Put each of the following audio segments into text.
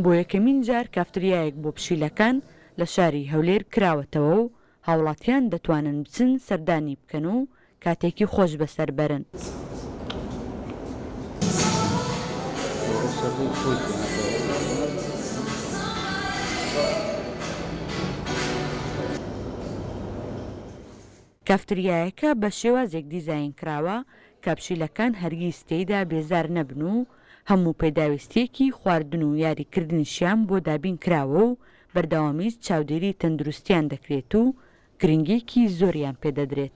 بۆ یەکەمین جار کافتریایەک بۆ پشیلەکان لە شاری هەولێر کراوەتەوە و هاوڵاتیان دەتوانن بچن سەردانی بکەن و کاتێکی خۆش بەسەر بەرن. کافتریایەکە بە شێوازێک دیزاین کراوە کە پشیلەکان هەرگیز تێیدا بێزار نەبن و هەموو پێداویستییەکی خواردن و یاریکردنیشیان بۆ دابین کراوە و بەردەوامیش چاودێری تەندروستییان دەکرێت و گرنگییەکی زۆریان پێ دەدرێت.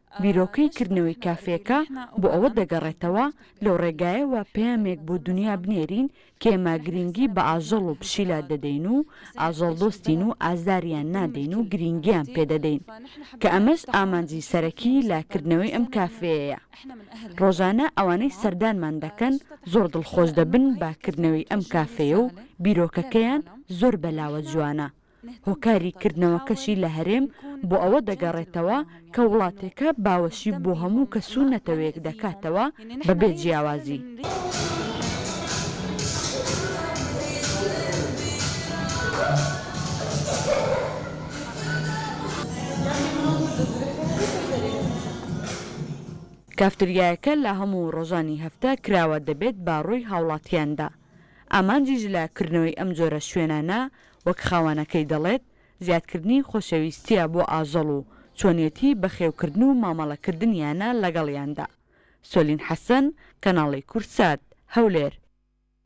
بیرۆکەی کردنەوەی کافێکە بۆ ئەوە دەگەڕێتەوە، لەو ڕێگایەوە پەیامێک بۆ دونیا بنێرین کە ئێمە گرینگی بە ئاژەڵ و پشیلە دەدەین و ئاژەڵدۆستین و ئازاریان نادەین و گرینگییان پێ دەدەین، کە ئەمەش ئامانجی سەرەکی لە کردنەوەی ئەم کافێیەیە. ڕۆژانە ئەوانەی سەردانمان دەکەن زۆر دڵخۆش دەبن بە کردنەوەی ئەم کافێیە و بیرۆکەکەیان زۆر بەلاوە جوانە، هۆکاری کردنەوەکەشی لە هەرێم بۆ ئەوە دەگەڕێتەوە کە وڵاتێکە باوەشی بۆ هەموو کەس و نەتەوەیەک دەکاتەوە بە بێ جیاوازی. کافتریایەکە لە هەموو ڕۆژانی هەفتە کراوە دەبێت بە ڕووی هاوڵاتیاندا. ئامانجیش لە کردنەوەی ئەم جۆرە شوێنانە وەک خاوەنەکەی دەڵێت، زیادکردنی خۆشەویستییە بۆ ئاژەڵ و چۆنیەتی بەخێوکردن و مامەڵەکردنیانە لەگەڵیاندا. سۆلین حەسەن، کەناڵی کوردسات، هەولێر.